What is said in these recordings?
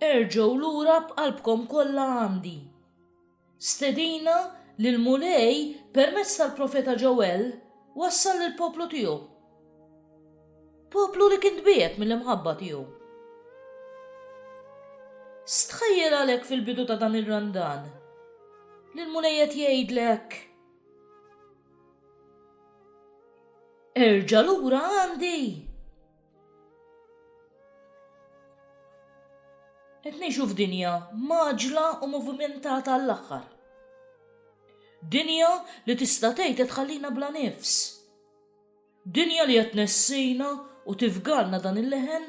Erġgħu lura b'qalbkom kollha għandi. Stedina li l-Mulej permezz tal-profeta Ġewell wassal lill-poplu tiegħu. Poplu li kien tbiegħed mill-imħabba tiegħu. Stħajjel għalhekk fil-bidu ta' dan ir-randan li l-Mulej qed jgħidlek Erġa' lura għandi. Qed ngħixu f'dinja maġla u movimentata għall-aħħar. Dinja li tista' tgħid qed tħallina bla nifs. Dinja li qed nessina u tifgalna dan il-leħen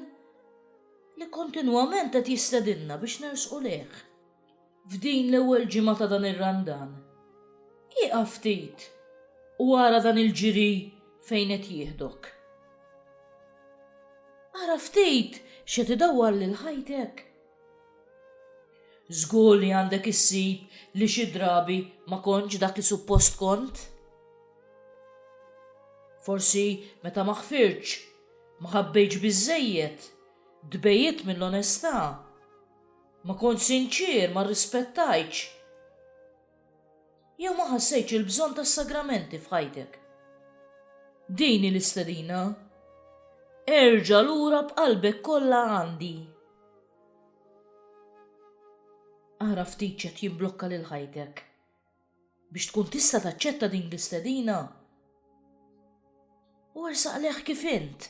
li kontinwament qed jistedinna biex nersqu lejh. F'din l-ewwel ġimgħa ta' dan ir-Randan, ieqaf ftit u ara dan il-ġiri fejn qed jieħdok. Ara ftit x'qed idawwar lil ħajtek. Żgur li għandek issib li xi drabi ma kontx dak li suppost kont. Forsi meta ma ħfirtx, ma ħabbejtx biżżejjed, tbegħidt mill-onestà. Ma kontx sinċier, ma rrispettajtx, jew ma ħassejtx il-bżonn tas-sagramenti f'ħajtek. Din hi l-istedina. Erġa' lura b'qalbek kollha għandi. Ara ftit x'qed jimblokka lil ħajtek. biex tkun tista' taċċetta din l-istedina. U ersaq leħ kif int.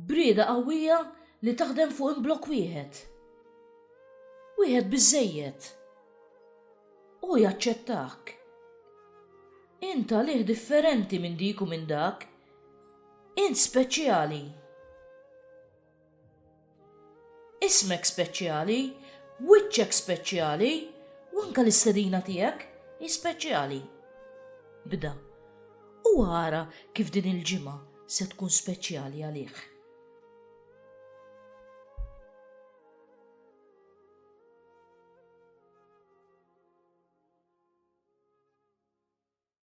Brieda qawwija li taħdem fuq imblok wieħed. Wieħed biżejjed. U jaċċettak. Int għalih differenti minn dik u minn dak. Int speċjali. Ismek speċjali, wiċċek speċjali, u anke l-istedina tiegħek hi speċjali. Bda, u ara kif din il-ġimgħa se tkun speċjali għalih.